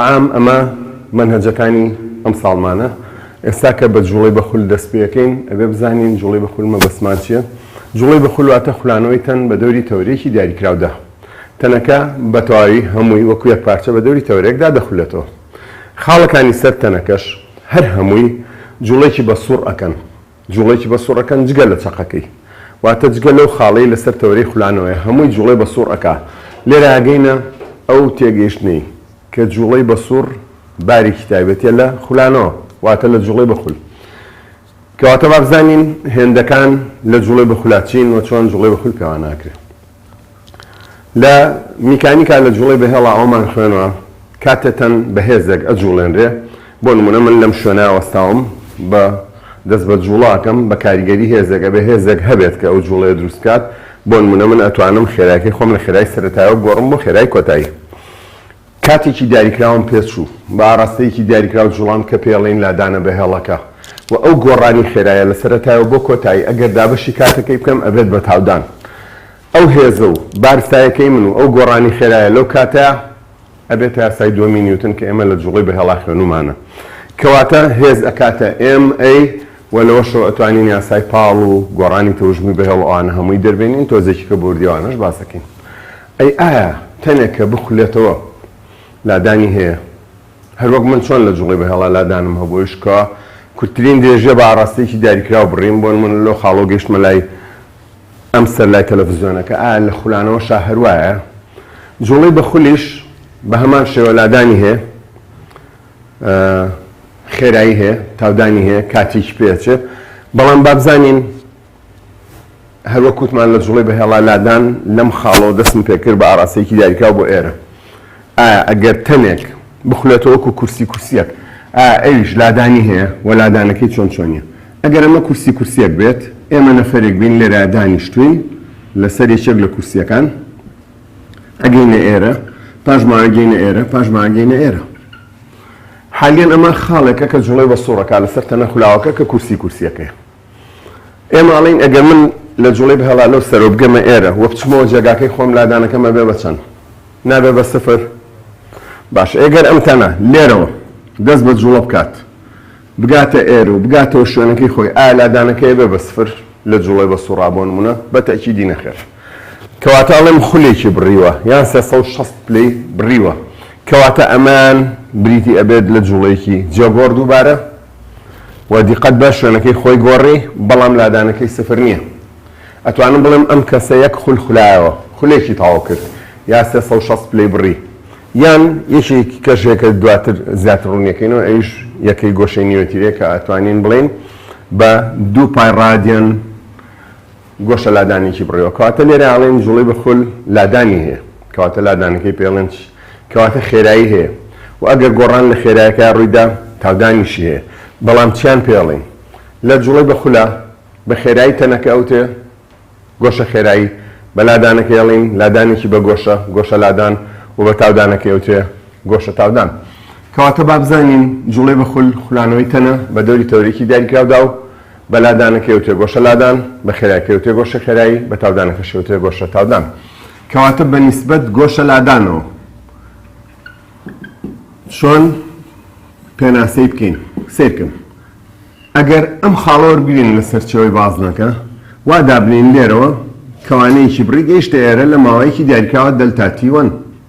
عام ئەمە مەنهەجەکانی ئەم ساڵمانە. ئێستا کە بە جوڵەی بە خول دەست پێەکەین ئەبێ بزانین جوڵەی بە خول مەبەستمان چیە؟ جوڵەی بە خول واتە خولانەوەی تەن بە دەوری تەوەرێکی دیاریکراودا. تەنەکە بە تەواوی هەمووی وەکو یەک پارچە بە دەوری تەوەرێکدا دەخولێتەوە. خاڵەکانی سەر تەنەکەش هەر هەمووی جوڵەیەکی بە سوڕ ئەکەن. جوڵەیەکی بە سوڕ ئەکەن جگە لە چەقەکەی واتە جگە لەو خاڵەی لەسەر تەوەرەی خولانەوەیە هەمووی جوڵەی بە سوڕ ئەکا لێرە ئەگەینە ئەو تێگەیشتنەی کە جوڵەی بە سوڕ بارێکی تایبەتیە لە خولانەوە واتە لە جوڵەی بە خول کەواتە با بزانین هێندەکان لە جوڵەی بە خولا چین و چۆن جوڵەی بە خول پێواناکرێ. لە میکانیکا لە جوڵەی بەهێڵا ئەوەمان خوێنوە کاتێ تەن بەهێزێک ئەجوڵێنرێ بۆ نمونە من لەم شوێنە وەستاوم بە دەست بە جوڵاکەم بە کاریگەری هێزێک ئەبێ هێزێک هەبێت کە ئەو جوڵەیە دروست بکات بۆ نمونە من ئەتوانم خێرایەکەی خۆم لە خێرای سەرەتایەوە بگۆڕم بۆ خێرای کۆتایی کاتێکی دیاریکراوم پێ چوو، بە ئاراستەیەکی دیاریکراو جوڵام کە پێڵێین لادانە بە هێڵەکە و ئەو گۆڕانی خێرایە لە سەرەتایەوە بۆ کۆتایی ئەگەر دابەشی کاتەکەی بکەم ئەبێت بە تاودان ئەو هێزە و بارستایەکەی من و ئەو گۆڕانی خێرایە لەو کاتە ئەبێتە یاسای دووەمی نیوتن کە ئێمە لە جوڵەی بەهێڵا خوێنومانە کەواتە هێز ئەکاتە MA و لەوەشەوە ئەتوانین یاسای پاڵ و گۆڕانی تەوژمی بەهێڵ و ئەوانە هەمووی دەربێنین تۆزێکیکە بۆردیەوانەش باسەکەین ئەی ئایا تەنێک کە بخولێتەوە لادانی هەیە؟ هەر وەک من چۆن لە جوڵەی بەهێڵا لادانم هەبوو ئیش کوا؟ کورتترین درێژیە بە ئاڕاستەیەکی دیاریکراو بڕیم، بۆ نموونە لەو خاڵەوە گەیشتمە لای ئەم سەر لای تەلەفزیۆنەکە، ئایا لە خولانەوەشا هەر وایە؟ جوڵەی بە خولیش بە هەمان شێوە لادانی هەیە، خێرایی هەیە، تاودانی هەیە، کاتیکی پێ ئەچێ، بەڵام با بزانین، هەروەک وتمان لە جوڵەی بەهێڵا لادان لەم خاڵەوە دەستم پێکرد بە ئاراستەیەکی دیاریکراو بۆ ئێرە ئایا ئەگەر تەنێک بخولێتەوە وەکو کورسی کورسیەک ئایا ئەویش لادانی هەیە و لادانەکەی چۆن چۆنیە ئەگەر ئەمە کورسی کورسیەک بێت ئێمە نەفەرێک بین لێرا دانیشتوین لەسەر یەکێک لە کورسیەکان ئەگەینە ئێرە پاش ماگەینە ئێرە پاش ماگەینە ئێرە حالیان ئەمە خاڵێکە کە جوڵەی بە سوڕەکە لەسەر تەنە خولاوەکە کە کورسی کورسیەکەی ئێمە ئەڵێین ئەگەر من لە جوڵەی بهێڵالۆ سەرەوە بگەمە ئێرە و بچمەوە جێگاکەی خۆم لادانەکەم ئەبێ بە چەند؟ نابێ بە سفر؟ باشە ئێگەر ئەم تەنە لێرەوە دەست بە جوڵە بکات بگاتە ئێر و بگاتەوە شوێنەکەی خۆی ئایا لادانەکەی بێ بە سفر لە جوڵەی بە سوڕا بۆ نمونە بە تەکیدی نەخێر کەواتە ئەڵێم خولێکی بڕیوە یان 360 پلەی بڕیوە کەواتە ئەمان بریتی ئەبێت لە جوڵەیەکی جێگۆڕ دووبارە و دیقەت بە شوێنەکەی خۆی گۆڕی بەڵام لادانەکەی سفر نییە ئەتوانم بڵێم ئەم کەسە یەک خول خولایەوە خولێکی تەواو کرد یا سێ سەد و شەست پلەی بڕی یان یەکێکی کەش هەیە کە دواتر زیاتر ڕوونیەکەینەوە ئەویش یەکەی گۆشەی نیوەتیرەیە کە ئەتوانین بڵێین بە دوو پای ڕادیان گۆشە لادانێکی بڕێوە کەواتە لێرە ئەڵێن جوڵەی بە خول لادانی هەیە کەواتە لادانەکەی پێڵێن چی کەواتە خێرایی هەیە و ئەگەر گۆڕان لە خێرایەکە ڕوویدا تاودانیشی هەیە بەڵام چیان پێڵین لە جوڵەی بە خولە بە خێرایی تەنەکە ئەوتێ گۆشە خێرایی بە لادانەکە ئەڵین لادانێکی بە گۆشە گۆشە لادان و بە تاودانەکەی ئەوتێ گۆشە تاودان کەواتە بابزانین جوڵەی بە خول خولانەوەی تەنە بە دەوری تەورێکی دیاریکراودا و بە لادانەکەی و تێگۆشە لادان، بە خێرایەکەی و تێگۆشە خێرایی، بە تاودانەکەشی و تێگۆشە تاودان. کەواتە بە نیسبەت گۆشە لادانەوە چۆن پێناسەی بکەین؟ سیرکن. ئەگەر ئەم خاڵە وەربگرین لە سەرچەوەی بازنەکە وا دابنین لێرەوە کەوانەیەکی بڕی گەیشتە ئێرە لە ماوەیەکی دیاریکراوە دەلتا تی وەن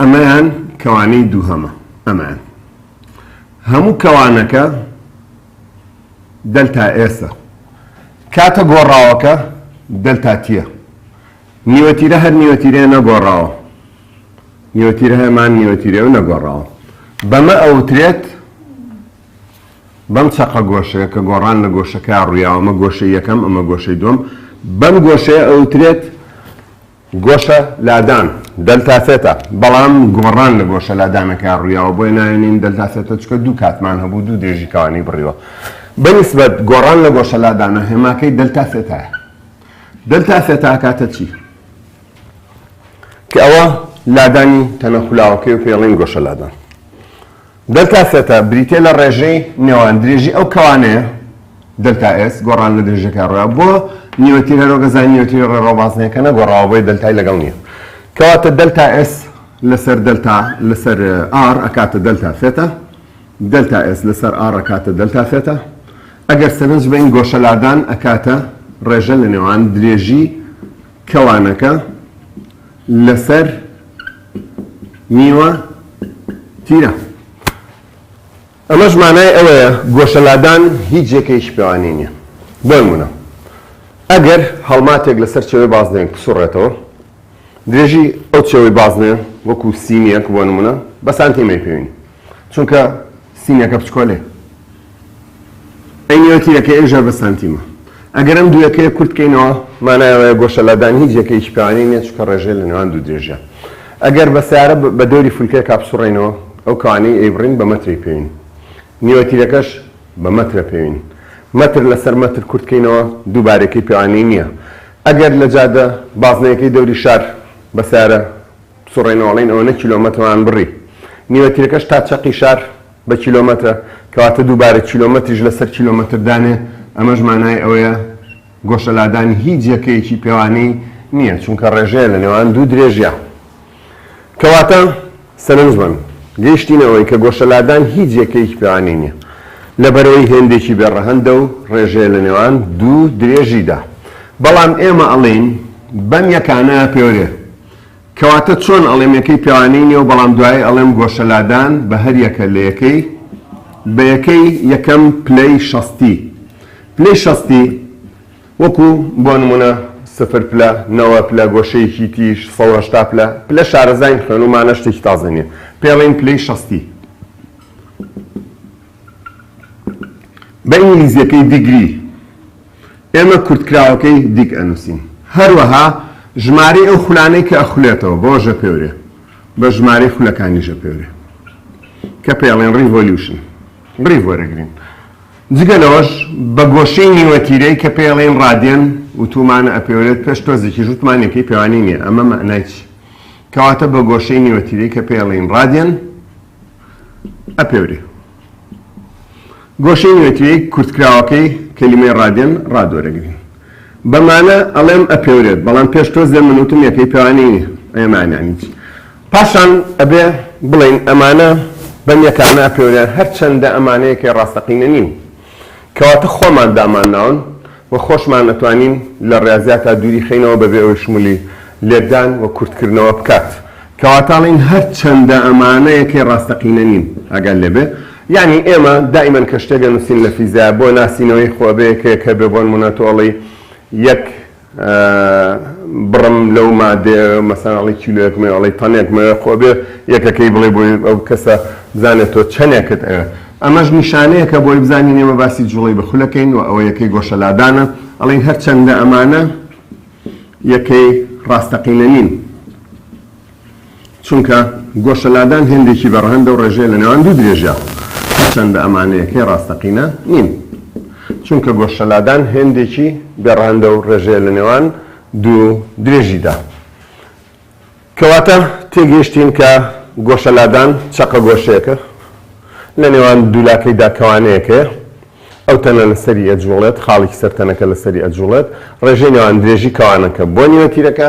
ئەمەیان کەوانەی دووهەمە ئەمان هەموو کەوانەکە دەلتا ئێسە کاتە گۆڕاوەکە دەلتاتیە نیوەتیرە هەر نیوەتیرێ نەگۆڕاوە نیوەتیرە هەمان نیوەتیرێ و نەگۆڕاوە بەمە ئەوترێت بەم چەقە گۆشەیە کە گۆڕان لە گۆشەکە ڕویاوەمە گۆشە یەکەم ئەمە گۆشەی دوم بەم گۆشەیە ئەوترێت گۆشە لادان، دەلتا ثێتا، بەڵام گۆڕان لە گۆشە لادانەکە ڕویاوە بۆیە ناوێنین دەلتا ثێتا چونکە دوو کاتمان هەبوو دوو درێژی کەوانی بڕیوە بە نیسبەت گۆڕان لە گۆشە لادانە هێماکەی دەلتا ثێتایە دەلتا ثێتا ئەکاتە چی کە ئەوە لادانی تەنە خولاوەکەی و پێڵین گۆشە لادان دەلتا سێتا بریتیە لە ڕێژەی نێوان درێژی ئەو کەوانەیە، دەلتا ئێس، گۆڕان لە درێژەکەی ڕێڕەوە بۆ نیوەتیرە هەرۆکەزای نیوەتیری ڕێڕەوە بازنەیە کە نەگۆڕاوە بۆیە دەلتای لەگەڵ نیە کەواتە دەلتا ئێس لەسەر دەلتا لەسەر ئاڕ ئەکاتە دەلتا سێتا دەلتا ئێس لەسەر ئاڕ ئەکاتە دەلتا سێتا ئەگەر سەرنج بەین گۆشە لادان ئەکاتە ڕێژە لە نێوان درێژی کەوانەکە لەسەر نیوە تیرە. ئەمەش مانای ئەوەیە گۆشە لادان هیچ جێکەیەکی پێوانەی نییە. بۆ نموونە ئەگەر هەڵماتێک لەسەر چێوەی بازنەیەک بسوڕێتەوە، درێژی ئەو چێوەی بازنەیە وەکوو سینییەک بۆ نموونە بە سانتیمەی پێوین. چونکە سینەکە بچکۆلەیە ئەی نێوە تیرەکەی ئێژە بە سانتیمە ئەگەر ئەم دووەکەی کورت کەینەوە مانایەوەە گۆشەلادان هیچ یەکەیەکی پێوانی نیە چکە ڕێژێ لە نێوان دوو درێژە ئەگەر بە سیارە بە دەوری فولکە کاپسوڕێنەوە ئەو کەوانی ئەیبڕین بە مەتری پێوین نیوە تیرەکەش بە مەترە پێوین مەتر لەسەر مەتر کورتکەینەوە دووبارەکەی پێوانی نییە ئەگەر لە جادە بازنەیەکەی دەوری شار بە سارە بسوڕێنەوە ئەڵێن ئەوەنە کیلۆمەترمان بڕی نیوە تیرەکەش تا چەقی شار بە کیلۆمەترە کەواتە دووبارە کیلۆمەتریش لەسەر کیلۆمەتر دانێ ئەمەش مانای ئەوەیە گۆشە لادانی هیچ یەکەیەکی پێوانی نییە چونکە ڕێژەیە لە نێوان دوو درێژیا کەواتە سەرنجمەن گەیشتینە ئەوەی کە گۆشە لادان هیچ یەکەیەکی پێوانی نییە لەبەرەوەی هێندێکی بێڕەهەندە و ڕێژەیە لە نێوان دوو درێژیدا بەڵام ئێمە ئەڵێین بەم یەکانە پێورێ کەواتە چۆن ئەڵێم یەکەی پێوانەی نێو بەڵام دوایی ئەڵێم گۆشە لادان بە هەر یەکە لە یەکەی بە یەکەی یەکەم پلەی شەستی پلەی شەستی وەکو بۆ نمونە سفر پلە نەوە پلە گۆشەیەکی تیش سەد و هەشتا پلە پلە شارەزاین خوێنومانە شتێکی تازە نیە پێڵین پلەی شەستی بە ئینگلیزیەکەی دیگری ئێمە کورتکراوەکەی دیگ ئەنووسین. هەروەها ژمارەی ئەو خولانەی کە ئەخولێتەوە بۆ ژەپێورێ بە ژمارەی خولەکانی ژەپێورێ کە پێڵێن ڕیڤۆلیوشن، ڕیڤ وەرەگرین. جگە لەوەش بە گۆشەی نیوەتیرەی کە پێڵێن ڕادیەن وتوومانە ئەپێورێت پێش تۆزێکیش وتمان یەکەی پێوانی نییە ئەمە مەعنای چی؟ کەواتە بە گۆشەی نیوەتیرەی کە پێڵێن ڕادیەن ئەپێورێ. گۆشەی نوێترێی کورتکراوەکەی کەلیمەی ڕادێن، ڕادوەرەگرین. بە مانا ئەڵێم ئەپێورێت، بەڵام پێش تۆ زێ من وتم یەکەی پێوانی نییە، ئێ مانانی چی؟ پاشان ئەبێ بڵێین ئەمانە بەم یەکانە ئەپێورێن، هەرچەندە ئەمانە یەکەی ڕاستەقینە نین. کەواتە خۆمان دامان ناون و خۆشمان ئەتوانین لە ڕیازیاتا دووری خەینەوە بەبێ ئەوەی شمولی لێکدان و کورتکردنەوە بکات. کەواتە ئەڵێین هەرچەندە ئەمانە یەکەی ڕاستەقینە نین ئاگات لێبێ یانی ئێمە دائیمەن کە شتێک ئەنوسین لە فیزیا بۆ ناسینەوەی خۆ ئەبێ یەکەیەک هەبێ بۆنمونە تۆ ئەڵێی یەک بڕم لەو مادەیە مەسەلەن ئەڵێی کیلۆیەک مەوێ ئەڵێی تەنێک مەوێ خۆ ئەبێ یەکەکەی بڵێی بۆ ئەو کەسە بزانێ تۆ چەنێکت ئەوێ ئەمەش نیشانەیەکە بۆی بزانین ئێمە باسی جوڵەی بە خولەکەین و ئەوە یەکەی گۆشەلادانە ئەڵێن هەرچەندە ئەمانە یەکەی ڕاستەقینە نین چونکە گۆشە لادان هێندێکی بە ڕەهەندە و ڕێژەیە لە نێوان دوو درێژە، هەرچەندە ئەمانە یەکەی ڕاستەقینە نین، چونکە گۆشە لادان هێندێکی بێ ڕەهەندە و ڕێژەیە لە نێوان دوو درێژیدا. کەواتە تێگەیشتین کە گۆشە لادان چەقە گۆشەیەکە لە نێوان دوو لاکەیدا کەوانەیەکەیە، ئەو تەنە لە سەری ئەجووڵێت، خاڵێکی سەر تەنەکە لە سەری ئەجووڵێت، ڕێژەی نێوان درێژی کەوانەکە بۆ نیوەتیرەکە،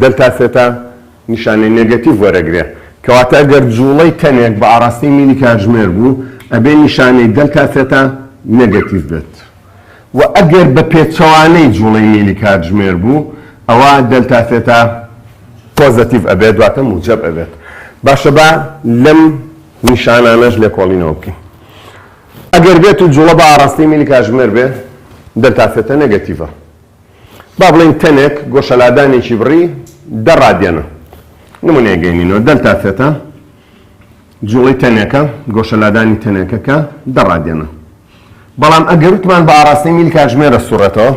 دەلتا سێتا نیشانەی نێگەتیڤ وەرەگرێ کەواتە گەر جوڵەی تەنێک بە ئاڕاستەی میلی کاتژمێر بوو ئەبێ نیشانەی دەلتا سێتا نێگەتیڤ بێت وە ئەگەر بە پێچەوانەی جوڵەی میلی کاتژمێر بوو ئەوا دەلتا سێتا پۆزەتیڤ ئەبێت واتە موجەب ئەبێت باشە با لەم نیشانانەش لێکۆڵینەوە بکەین ئەگەر بێت و جوڵە بە ئاڕاستەی میلی کاتژمێر بێ دەلتا سێتا نێگەتیڤە با بڵێین تەنێک گۆشەلادانێکی بڕی دە ڕادیەنە، نموونەیەک گەیەنینەوە، دەلتا ثێتا جوڵەی تەنێکە، گۆشەلادانی تەنێکەکە دە ڕادیەنە. بەڵام ئەگەر وتمان بە ئاڕاستەی میل کاتژمێرە سوڕێتەوە،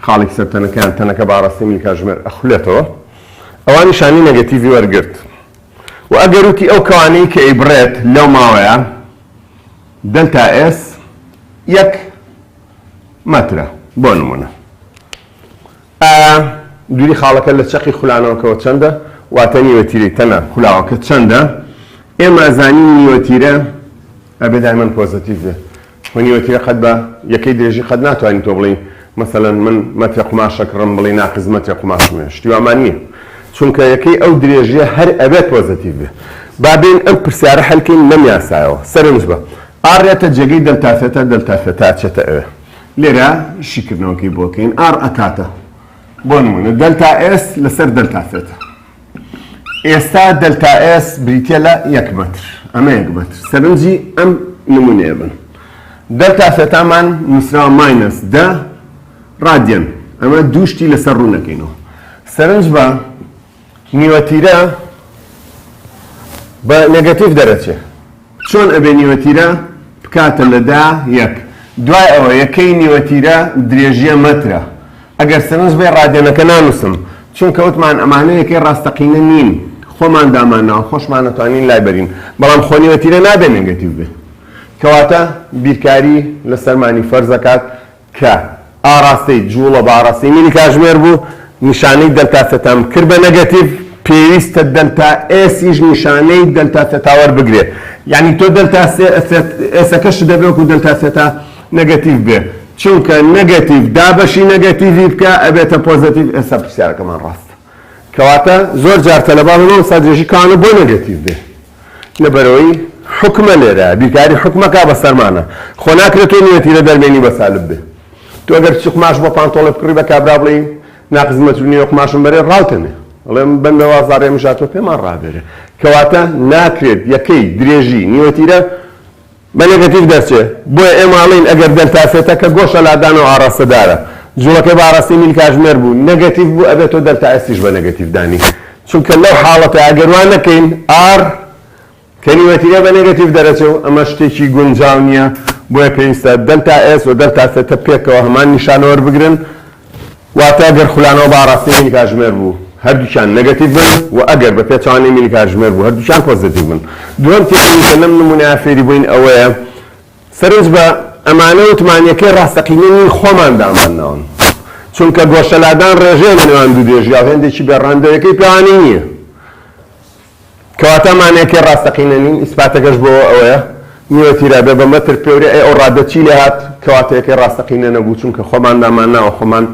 خاڵێکی سەر تەنەکە یان تەنەکە بە ئاڕاستەی میل کاتژمێر ئەخولێتەوە، ئەوا نیشانەی نێگەتیڤی وەرگرت. وە ئەگەر وتی ئەو کەوانەی کە ئەیبڕێت لەو ماوەیە، دەلتا ئێس یەک مەترە بۆ نمونە ئایا دوری خاڵەکە لە چەقی خولانەوەکەەوە چەندە واتە نیوەتیرەی تەنە خولاوەکە چەندە ئێمە ئەزانی نیوەتیرە ئەبێ دایمەن پۆزتیڤ بێ و نیوەتیرە قەت بە یەکەی درێژی قەت ناتوانین تۆ بڵین مەسەەن من مەترە قماشەکڕم بڵی ناقز مەترە قماشمێ شتیوامان نییە چونکە یەکەی ئەو درێژیە هەر ئەبێت پۆزتیڤ بێ بابین ئەم پرسیارە هەلکەین لەم یاسایەوە سەرنج بە ئا رێتە جێگەی دەلتا ثێتا دەلتا ثێتا ئەچێتە ئێ. لێرە شیکردنەوەکەی بۆ کەین ئاڕ ئەکاتە بۆ نموونە دەلتا ئێس لەسەر دەلتا ثێتا. ئێستا دەلتا ئێس بریتییە لە یەک مەتر. ئەمە یەک مەتر. سەرنجی ئەم نموونەیە بن. دەلتا ثێتامان نووسراوە ماینەس دە ڕادیەن. ئەمە دوو شتی لەسەر ڕوو نەکەینەوە. سەرنج بە نیوە تیرە بە نەگەتیڤ دەرەچێ چۆن ئەبێ نیوە تیرە بکاتە لە دا یەک دوای ئەوە یەکەی نیوە تیرە درێژیە مەترە ئەگەر سەرنج بێ ڕادێنەکە نانووسم چونکە وتمان ئەمانە یەکەی ڕاستەقینە نین خۆمان دامانناوە خۆشمان نەتوانین لای بەرین بەڵام خۆ نیوە تیرە نابێ نەگەتیو بێ کەواتە بیرکاری لە سەرمانی فەرزەکات کە ئاڕاستەی جووڵە باڕە سیمینی کاژمێر بوو، نیشانەی دەلتا سێتام کرد بە نەگەتیڤ، پێویستە دەلتا ئێسیش نیشانەی دەلتا سێتا وەربگرێ، یانی تۆ دەلتا ئێسەکەشت دەبێ وەکوو دەلتا سێتا نەگەتیڤ بێ، چونکە نەگەتیڤ دابەشی نەگەتیڤی بکە ئەبێتە پۆزەتیڤ، ئێستا پرسیارەکەمان ڕاستە. کەواتە زۆر جار تەلەبە ئەڵێن مامۆستا درێژی کانە بۆ نەگەتیڤ بێ؟ لەبەرئەوەی حوکمە لێرە بیرکاری حوکمەکە بەسەرمانە خۆ ناکرێت تۆ نیەتی لە دەربێنی بە سالب بێ تۆ گەر بچی قماش بۆ پانتۆڵێ بکڕی بە کابرا بڵێی ناقزمەت نیە قماشم بەرێ ڕاوتەمێ ئەڵێم بەم بە وازارێ مژاتۆ پێمان ڕابێرێ کەواتە ناکرێت یەکەی درێژی نیوەتیرە بە نێگەتیڤ دەرچێ، بۆیە ئێمە ئەڵێین ئەگەر دەلتا سێتە کە گۆشە لادانە و ئاڕاستەدارە، جوڵەکەی بە ئاڕاستەی میل کاژمێر بوو، نێگەتیڤ بوو، ئەبێ تۆ دەلتا ئێستیش بە نێگەتیڤ دانی، چونکە لەو حاڵەتە ئەگەر وا نەکەین ئاڕ کەلیمەتی ئێ بە نێگەتیڤ دەرەچێ و ئەمە شتێکی گونجاو نییە، بۆیە پێویستە دەلتا ئێس و دەلتا سێتە پێکەوە هەمان نیشانە وەربگرن. واتە گەر خولانەوە بە ئاڕاستەی مینی کاتژمێر بوو هەردووکیان نەگەتیڤ بن و ئەگەر بە پێچەوانەی مینی کاتژمێر بوو هەردووکیان پۆزەتیڤ بن. دووەم تێبینی کە لەم نموونەیە فێری بووین ئەوەیە سەرنج بە ئەمانە وتمانیەکەی ڕاستەقینەی مین خۆمان دامان ناون چونکە گۆشەلادان ڕێژەیە لە نێوان دوو دێژیا و هێندێکی بێ ڕەهەندە و یەکەی پێوانی نییە. کەواتە مانەکەی ڕاستەقینە نین، ئیسپاتەکەش بۆ ئەوەیە نیوەتیرە بێ بە مەتر پێورێ، ئەی ئەو ڕادە چی لێ هات کە واتەیەکەی ڕاستەقینە نەبوو، چونکە خۆمان دامانناوە خۆمان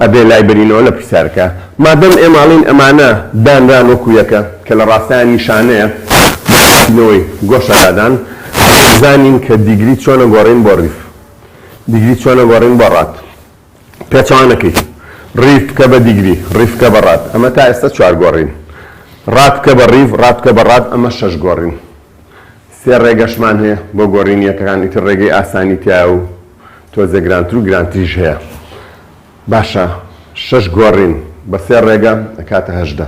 ئەبێ لای برینەوە لە پرسیارەکە، مادەم ئێماڵین ئەمانە دانران وەکو یەکە کە لە ڕاستایە نیشانەیە بۆ ناسینەوەی گۆشە لادان، ئەبێ بزانین کە دیگری چۆنە گۆڕین بۆ ڕیف، دیگری چۆنە گۆڕین بۆ ڕات. پێچەوانەکەی، ڕیڤ بکە بە دیگری، ڕیڤ بکە بە ڕاد، ئەمە تا ئێستا چوار گۆڕین. ڕاد بکە بە ڕیڤ، ڕاد بکە بە ڕاد، ئەمە شەش گۆڕین. سێ ڕێگەشمان هەیە بۆ گۆڕینی یەکەکان، ئیتر ڕێگەی ئاسانی تیایە و تۆزێ گرانتر و گرانتریش هەیە. باشە شەش گۆڕین بە سێ ڕێگە ئەکاتە هەژدە.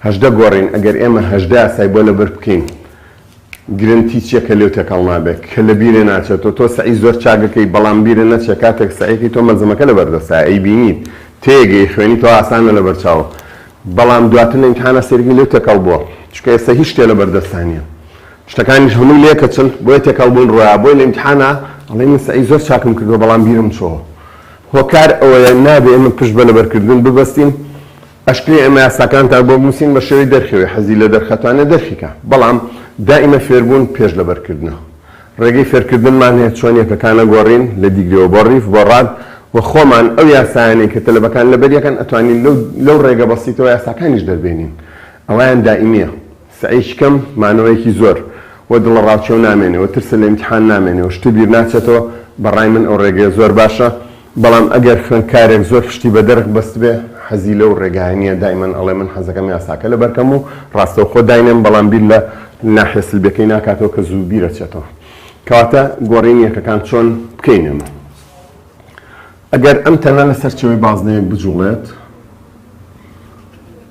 هەژدە گۆڕین، ئەگەر ئێمە هەژدە یاسای بۆ لەبەر بکەین، گرنت هیچ یەکە لێو تێکەڵ نابێ کە لە بیرێ ناچێتۆ تۆ سەعی زۆر چاک ئەکەی بەڵام بیرە نەچێ کاتێک سەعیەکەی تۆ مەلزەمەکە لە بەر دەستایە ئەی بینیت تێگەی ئەی خوێنیتەوە ئاسانە لە بەر چاوە بەڵام دواتر لە ئیمتحانا سەیرەکەی لێو تێکەڵ بووە چونکە ئێستا هیچ شتێ لە بەر دەستا نییە شتەکانیش هەمووی لێکەچن بۆیە تێکەڵ بوون ڕۆیا بۆی لە ئیمتحانا ئەڵێ من سەعی زۆر چاکم کردووە بەڵام بیرم چۆوە هۆکار ئەوەیە نابێ ئێمە پشت بە لەبەرکردن ببەستین ئەشکرێ ئێمە یاساکانتان بۆ بنووسین بە شێوەی دەرکەوێ حەزی لە دەرخەتانە دەرکی کا بەڵام دائیمە فێربوون پێش لە بەرکردنە ڕێگەی فێرکردنمان هەیە چۆن یەکەکانە گۆڕین لە دیگرەوە بۆ ڕیف بۆ ڕاد و خۆمان ئەو یاسایانەی کە تەلەبەکان لەبەریەکەن ئەتوانین لەو لەو ڕێگە بەسیتەوە یاساکانیش دەربێنین ئەوەیان دائیمیە. سەعیی کەم، مانەوەیەکی زۆر، و دڵەڕاوکێ و نامێنێ، و ترسە لە ئیمتیحان نامێنێ، و شتێ بیر ناچێتەوە، بە ڕای من ئەو ڕێگەیە زۆر باشە، بەڵام ئەگەر خوێندکارێک زۆر پشتی بە دەرخ بەستبێ، حەزی لەو ڕێگایە نییە، دایمەن ئەڵێ من حەزەکەم یاساکە لە بەرکەم و ڕاستەوخۆ داینێم، بەڵام بیر لە ناحیە سلبیەکەی ناکاتەوە کە زوو بیر ئەچێتەوە. کەواتە گۆڕینی یەکەکان چۆن بکەین ئێمە؟ ئەگەر ئەم تەنە لە سەرچەوەی بازنەیەک بجوڵێت،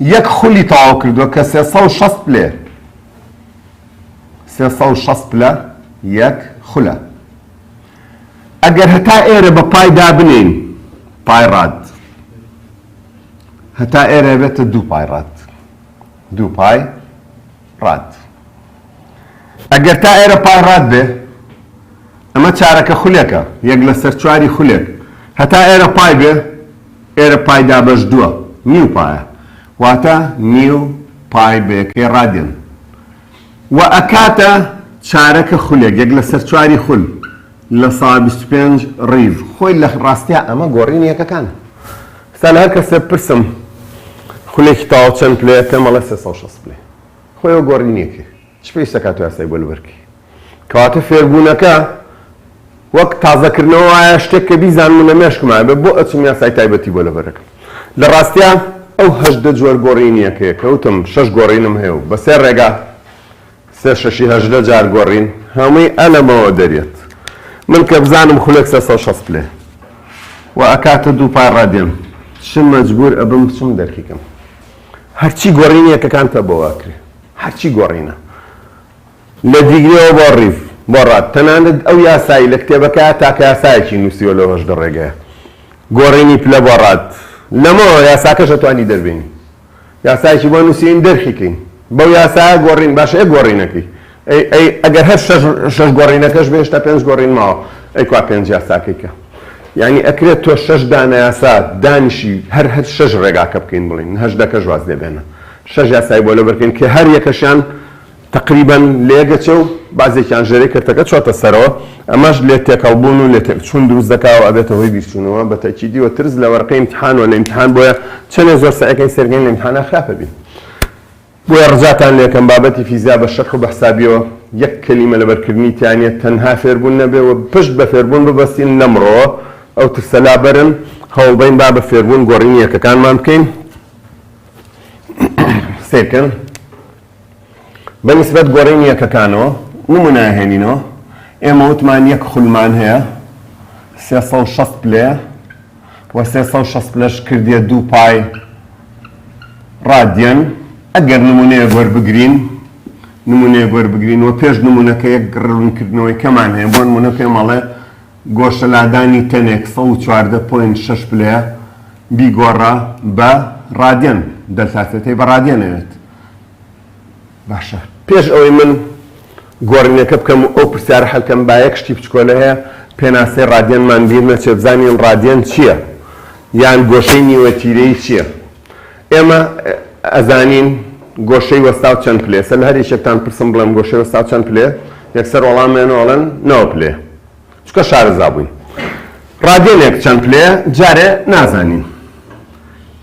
یەک خولی تەواو کردووە کە سێ سەد و شەست پلەیە. سێ سەد و شەست پلە یەک خولە. ئەگەر هەتا ئێرە بە پای دابنێین، پای ڕاد هەتا ئێرە ئەبێتە دوو پای ڕاد. دوو پای. ڕات. ئەگەر تا ئێرە پای ڕات بێ، ئەمە چارەکە خولێکە، یەک لەسەر چواری خولێک، هەتا ئێرە پای بێ، ئێرە پای دابەش دووە، نیو پایە، واتە نیو پای بە یەکەی ڕادیان. وە ئەکاتە چارەکە خولێک، یەک لەسەر چواری خول، لە سا بیست و پێنج ڕیڤ خۆی لە ڕاستیا ئەمە گۆڕینی یەکەکانە ستا لە هەر کەسێ بپرسم خولێکی تاو چەند پلەیە پێم ئەڵێ سێ سەد و شەست پلەی خۆی ئەو گۆڕینیەکەی چ پێویستە کات و یاسای بۆ لەبەرکی کەواتە فێربوونەکە وەک تازەکردنەوە وایە شتێک کە بیزانم لە مێشکمایە بێ بۆ ئەچم یاسای تایبەتی بۆ لەبەرەکەم لە ڕاستیا ئەو هەژدە جۆر گۆڕینیەکەیە کەوتم شەش گۆڕینم هەیە و بە سێ ڕێگا سێ شەشی هەژدە جار گۆڕین هەمووی ئە لەمەوە دەریەت من کە بزانم خولەک سێ سەد و شەست پلەیە وە ئەکاتە دوو پار ڕادێم چ مەجبور ئەبم بچم دەرکی کەم هەرچی گۆڕینی یەکەکان پە بۆ واکرێ هەرچی گۆڕینە لە دیگرەوە بۆ ڕیڤ بۆ ڕات تەنانەت ئەو یاسایی لە کتێبەکە تاکە یاسایەکی نووسیوە لەو هەژدە ڕێگەیە گۆڕینی پلە بۆ ڕات لەمەوە یاساکەش ئەتوانی دەربێنی. یاسایەکی بۆ نوسیین دەرکی کەین بەو یاسایە گۆڕین باشە ئێ گۆڕینەکەی ئەی ئەی ئەگەر هەر شەش شەش گۆڕینەکەش بێ هێشتا پێنج گۆڕین ماوە ئەی کوا پێنج یاساکەی کە یعنی ئەکرێت تۆ شەش دانە یاسا دانیشی هەر هەر شەش ڕێگاکە بکەین بڵین هەش دەکەش واز لێ بێنە شەش یاسای بۆ لەبەرکەین کە هەر یەکەشیان تەقریبەن لێکدەچێ و بەعزێکیان ژێرەی کەرتەکە چۆتە سەرەوە، ئەمەش لێ تێکەڵبوون و لێ تێکچوون دروست دەکا و ئەبێتە هۆی بیرچوونەوە، بە تەئکیدی و ترس لە وەرەقەی ئیمتیحان و لە ئیمتیحان بۆیە چەنێ زۆر سەعیکەین سەیرکەین لە ئیمتیحانا خراپە بین. بۆیە ڕجاتان لێکەم بابەتی فیزیا بە شەرح و بە حسابیەوە یەک کەلیمە لەبەرکردنی تیا نیە تەنها فێربوون نەبێ و پشت بە فێربوون ببەستین لەمڕۆوە ئەو ترسە لابەرن هەوڵبەین با بە فێربوون گۆڕینی یەکەکانمان بکەین سەیرکەن. بە نیسبەت گۆرینی یەکەکانەوە نمونە ئەهێنینەوە ئێمە وتمان یەک خولمان هەیە سێ سەد و شەست پلەیە و سێ سەد و شەست پلەش کردیە دوو پای ڕادیەن ئەگەر نمونەیەک وەربگرین نمونەیەک وەربگرین و پێش نمونەکە یەک ڕوونکردنەوەی کەمان هەیە بۆ نمونە پێمەڵێ گۆشەلادانی تەنێک 14.6 پلەیە بیگۆڕە بە ڕادیەن دەلتا سێتەی بە ڕادیەنەوێت باشە پێش ئەوەی من گۆڕینەکە بکەم و ئەو پرسیارە حەلکەم با یەک شتی بچکۆلە هەیە پێناسەی ڕادیەنمان بیر نەچێت بزانین ڕادیەن چییە یان گۆشەی نیوە تیرەی چییە ئێمە ئەزانین گۆشەی وەستا و چەند پلێسە لە هەر یەکێکتان پرسم بڵێم گۆشەی وەستا و چەند پلێ یەکسەر وەڵامێنەوەڵەن نەوە پلێ چکە شارەزا بووین ڕاگەلێک چەند پلەیە جارێ نازانین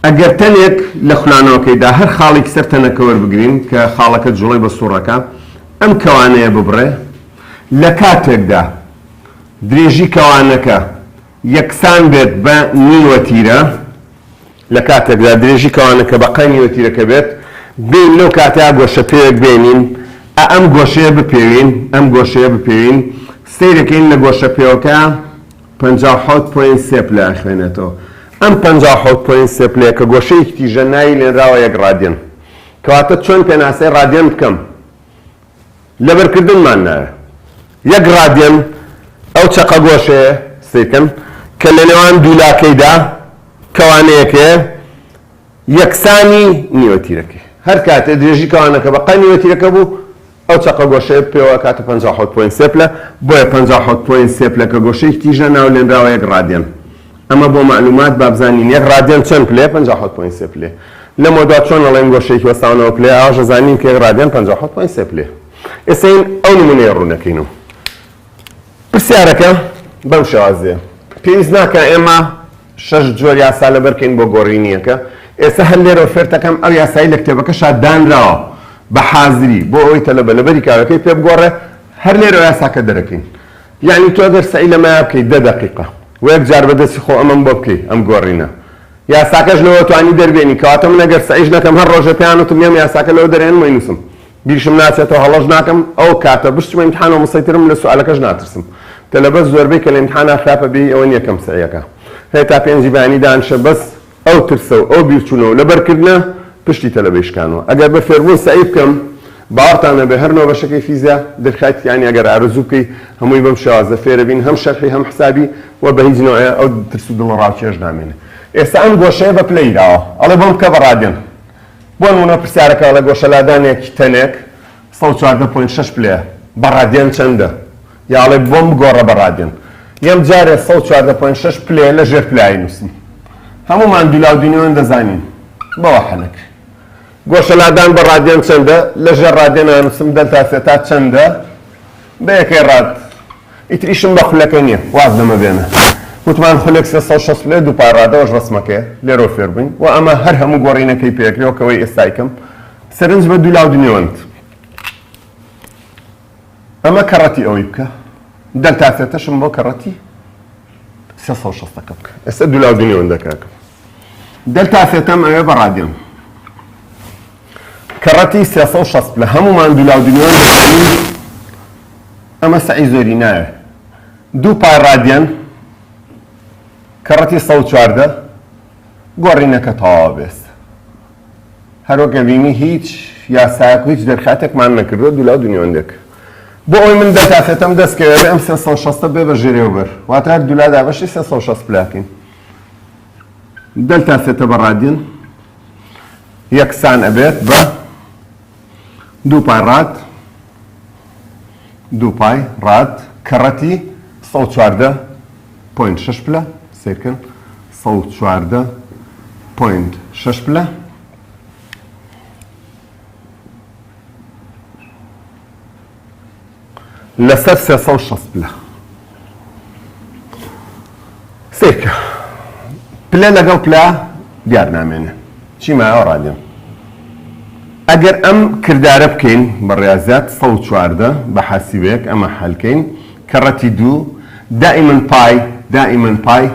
ئەگەر تەنێک لە خولانەوەکەیدا هەر خاڵێکی سەر تەنەکە وەربگرین کە خاڵەکە جوڵەی بە سوڕەکە ئەم کەوانەیە ببڕێ لە کاتێکدا درێژی کەوانەکە یەکسان بێت بە نیوەتیرە لە کاتێکدا درێژی کەوانە کە بە قەیمی وەتیرەکە بێت، بێین لەو کاتە گۆشەپێوێک بێنین، ئا ئەم گۆشەیە بپێوین، ئەم گۆشەیە بپێوین، سەیرەکەین لە گۆشەپێوەکە پەنجا و حەوت پۆینت سێ پلە ئەخوێنێتەوە، ئەم پەنجا و حەوت پۆینت سێ پلەیە کە گۆشەیەکی تیژە ناوی لێنراوە یەک ڕادیەن، کەواتە چۆن پێناسەی ڕادیەن بکەم؟ لەبەرکردنمان نایە یەک ڕادیەن ئەو چەقە گۆشەیە سەیرکەن کە لەنێوان دوولاکەیدا کەوانەیەکەیە یەکسانی نیوەتیرەکەی هەرکاتێ درێژی کەوانەکە بە قای نیوەتیرەکە بوو ئەو چەقە گۆشەیە پێوە ئەکاتە پەنجا و حەوت پۆینت سێ پلە بۆیە پەنجا و حەوت پۆینت سێ پلە کە گۆشەیەکی تیژە ناولێنراوە یەک ڕادیەن. ئەمە بۆ مەعلومات بابزانین یەک ڕادیان چەند پلەیە پەنجا و حەوت پۆینت سێ پلەیە لەمەودوا چۆن ئەڵێن گۆشەیەکی وەستاونەوە پلەیە ئاواش ئەزانین کە یەک ڕادیان پەنجا و حەوت پۆینت سێ پلەیە ئێستا هین ئەو نمونەیە ڕوونەکەین و پرسیارەکە بەم شێوازەیە پێویست ناکە ئێمە شەش جۆر یاسا لەبەرکەین بۆ گۆڕینیەکە ئێستا هەر لێرەوە فێرتەکەم ئەو یاسایی لە کتێبەکە شاددانراوە بە حازری بۆ ئەوەی تەلەبە لەبەری کارەکەی پێ بگۆڕێ هەر لێرەوە یاساکە دەرەکەین یعنی تۆ گەر سەعی لەمە بکەیت دە دەقیقە وەک جار بە دەستی خۆ ئەمەم بۆ بکەی ئەم گۆرینە یاساکەش لەوە توانی دەربێنی کەواتە من ئەگەر سەعیش نەکەم هەر ڕۆژێ پێیان وتم یەم یاساکە لەوە دەرێنم وەینوسم بیرشم ناچێتەوە هەڵەش ناکەم ئەو کاتە بشچمە ئیمتحانەوە مسەیترم لە سوالەکەش ناترسم تەلەبە زۆربەی کە لە ئیمتحانا خراپە بێی ئەوە نیە کەم سەعیەکە هەیە تا پێنجی بەیانی دانیشە بەس ئەو ترسە و ئەو بیرچوونە و لەبەرکردنە پشتی تەلەبەی شکانوە. ئەگەر بە فێربوون سەعی بکەم، باوەڕتان هەبێ هەر نۆ بەشەکەی فیزیا درکایت یانی ئەگەر ئارەزوو بکەی هەمووی بەم شێوازە فێرە بین هەم شەرحی هەم حسابی و بە هیچ نەوعێ ئەو ترس و دڵەڕاوکێش نامێنێ. ئێستا ئەم گۆشەیە بە پلە یراوە ئەڵێ بۆم بکە بە ڕادێن. بۆ نموونە پرسیارەکە ئەڵێ گۆشەلادانێک تەنێک. سەد و چواردە پۆینت شەش پلەیە بە ڕادیان چەندە؟ یا ئەڵێ بۆم بگۆڕە بە ڕادیان یەم جارێ سەد و چواردە پۆینت شەش پلەیە لە ژێر پلە ئاینووسم هەموومان دولاو دونیۆن دەزانین بەوە حەلەک گۆشە لادان بە ڕادیان چەندە لە ژێر ڕادێن ئانووسم دەلتا سێتا چەندە بە یەکەی ڕاد ئیتر ئیشم بە خولەکە نییە واز لەمە بێنە وتمان خولێک سێ سەد و شەست پلە دووپای ڕادەوەش ڕەسمەکەیە لێرەوە فێر بووین و ئەمە هەر هەموو گۆڕینەکەی پێکرێوە کەوەی ئێستای کەم سەرنج بە دوو لاو دنێوەند. ئەمە کەڕەتی ئەوەی بکە. دەلتا سێتەشم بۆ کەڕەتی سێ سەد و شەستەکە بکە. ئێستا دوو لاو دنێوەندە کاکە. دەلتا سێتەم ئەوێ بە ڕادیۆن. کەڕەتی سێ سەد و شەست لە هەموومان دوو لاو دنێوەند دەکەین. ئەمە سەعی زۆری ناوێ. دوو پای ڕادیان کەڕەتی سەد و چواردە گۆڕینەکە تەواو بێت. هەروەک ئەبینی هیچ یاسایەک و هیچ دەرکاتێکمان نەکردووە دوولا و دونیۆندەک. بۆ ئەوەی من دە کاسێتەم دەستکەوێت ئەم سێ سەد و شەستە بێ بە ژێرێوبەر واتە هەر دوولا دابەشی سێ سەد و شەست پلاتین دەلتا سێتە بە ڕادیۆن یەکسان ئەبێت بە دوو پای ڕات دوو پای ڕات کەڕەتی سەد و چواردە پۆینت شەش پلە سیرکن سەد و چواردە پۆینت شەش پلە لەسەر سێ سەد و شەست پلە سێکە پلە لەگەڵ پلە دیار نامێنێ چی مایەوە ڕادێن ئەگەر ئەم کردارە بکەین بە ڕاضات سە چواردە بە حەسیبێک ئەمە حەلکەین کە ڕەتی دوو دائیمن پای دائیمن پای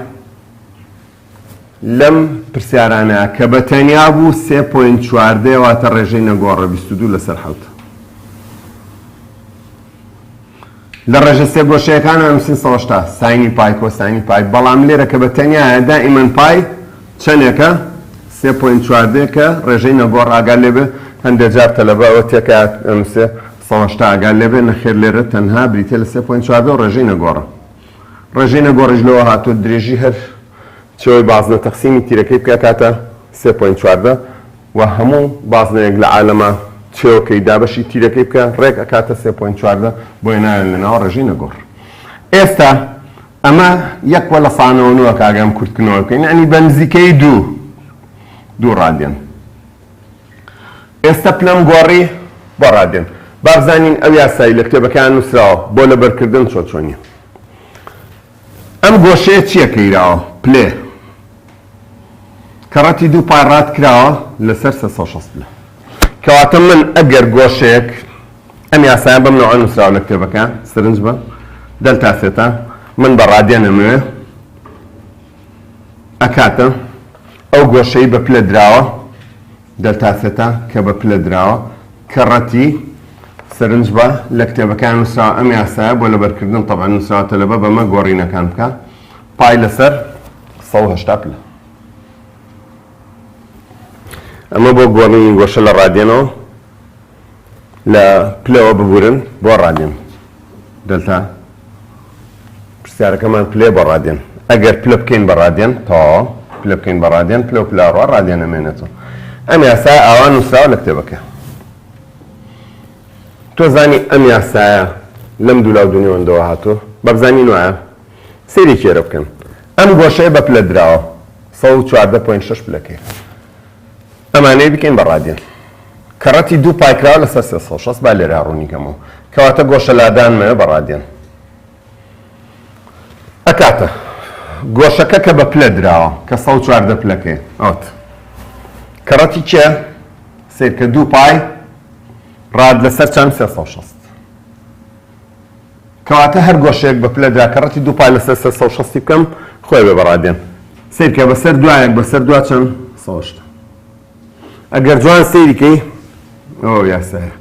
لەم پرسیارانە کە بە تەنیا بوو سێ پۆینت چواردەیە واتە ڕێژەی نەگۆڕە بیست و دوو لەسەر حەوت. لە ڕێژە سێ گۆشەیەکان ئەنووسین سەوەشتا ساینی پای کۆسانی پای بەڵام لێرە کە بە تەنیایە دائیمەن پای چەندێکە سێ پوین چواردێکە ڕێژەی نەگۆڕ ئاگال لێبێ هەندێک جار تەلەبەوە تێکات ئەنووسێ سەوەشتا ئاگال لێبێ نەخێر لێرە تەنها بریتە لە سێ پوین چواردە و ڕێژەی نەگۆڕە ڕێژەینە گۆڕیش لەوە هاتووە درێژی هەر چێوەی بازنە تەقسیمی تیرەکەی بکە کاتە سێ پۆینت چواردە و هەموو بازنەیەک لە عالەمە چێوەکەی دابەشی تیرەکەی بکە ڕێک ئەکاتە سێ پۆینت چواردە بۆیە ناوێن لە ناوە ڕێژەینە گۆڕ ئێستا ئەمە یەک وە لە سانەوە نوە کاگەم کورتکنەوە بکەین عنی بە نزیکەی دوو دوو ڕادیەن ئێستا پلەم گۆڕی بۆ ڕادێن. با بزانین ئەو یاسای لە کتێبەکەیان نووسراوە بۆ لەبەرکردن چۆن چۆنی. ئەم گۆشەیە چییە کەیراوە؟ پلێ. کە ڕەتی دوو پای ڕات کراوە لەسەر سێ سەد و شەست پلە. کەواتە من ئەگەر گۆشەیەک ئەم یاسایە بەم نەوعە نووسراوە لە کتێبەکە، سرنج بە دەلتا سێتا، من بە ڕادێن ئەمەوێ ئەکاتە ئەو گۆشەی بە پلە دراوە دەلتا سێتا کە بە پلە دراوە کە ڕەتی سەرنج بە لە کتێبەکان نووسراوە ئەم یاسایە بۆ لەبەرکردن تەبان نووسراوە تەلەبە بەمە گۆڕینەکان بکە پای لەسەر 1970 پلە ئەمە بۆ گۆڕینی گۆشە لە ڕادێنەوە لە پلەوە ببورن بۆ ڕادێن دەلتا پرسیارەکەمان پلێ بە ڕادێن ئەگەر پلە بکەین بە ڕادێن تەواوە پلە بکەین بە ڕادێن پلە و پلاڕوا ڕادێن ئەمێنێتەوە ئەم یاسا ئاوا نووسراوە لە کتێبەکە تۆ زانی ئەم یاسایە لەم دوولا و دنیاوەندەوە هاتووە بەبزانین وایە سری کێرە بکەن ئەم گۆشەیە بە پلە دراوە 14.6 پلەکەی ئەمانەی بکەین بە ڕادیۆن. کەڕەتی دوو پایکراوە لەسەر سێ سەد و شەست، با لێرە ڕوونی کەمەوە. کەواتە گۆشە لادانمەوێ بە ڕادیۆن. ئەکاتە. گۆشەکە کە بە پلە دراوە، کە سەد و چواردە پلەکەیە. ئەوەتە. کەڕەتی چییە؟ سەیرکە دوو پای ڕاد لەسەر چەند؟ سێ سەد و شەست. کەواتە هەر گۆشەیەک بە پلە درا کە ڕەتی دوو پا لەسەر سەر سەد و شەستی بکەم خۆی ئەبێ بە ڕادێن. سەیر کە بە سەر دوا یەک بە سەر دوا چەند سەوشتە. ئەگەر جوان سەیری کەی ئەوە یاسایە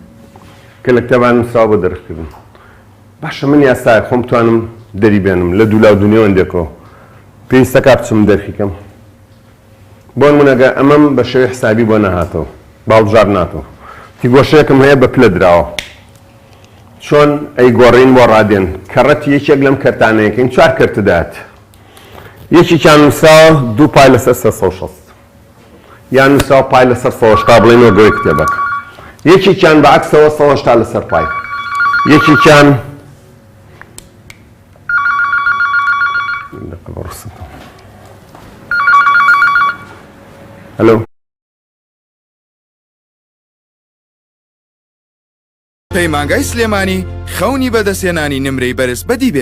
کە لە کتێبا نووسراوە بۆ دەرخ کردن. باشە من یاسایەک خۆم بتوانم دەری بێنم لە دوو لا و دوو نێوەندێکەوە پێویستەکا بچم دەرخی کەم؟ بۆنمونە گەر ئەمەم بە شێوەی حسابی بۆ نەهاتەوە باڵبژار ناتۆ تی گۆشەیەکم هەیە بە پلە دراوە چۆن ئەی گۆڕین بۆ ڕادێن کەڕەتی یەکێک لەم کەرتانەیەکەین چوار کەرتدات یەکێکیان نووساوە دوو پای لەسەر سە سە شەست یان نووساوە پای لەسەر سەشتا بڵێن و گەوەی کتێبەکە یەکێکیان بە عکسەوە سەشتا لەسەر پای یەکێکیان پەیمانگای سلێمانی خەونی بەدەستێنانی نمرەی بەرز بەدی بێ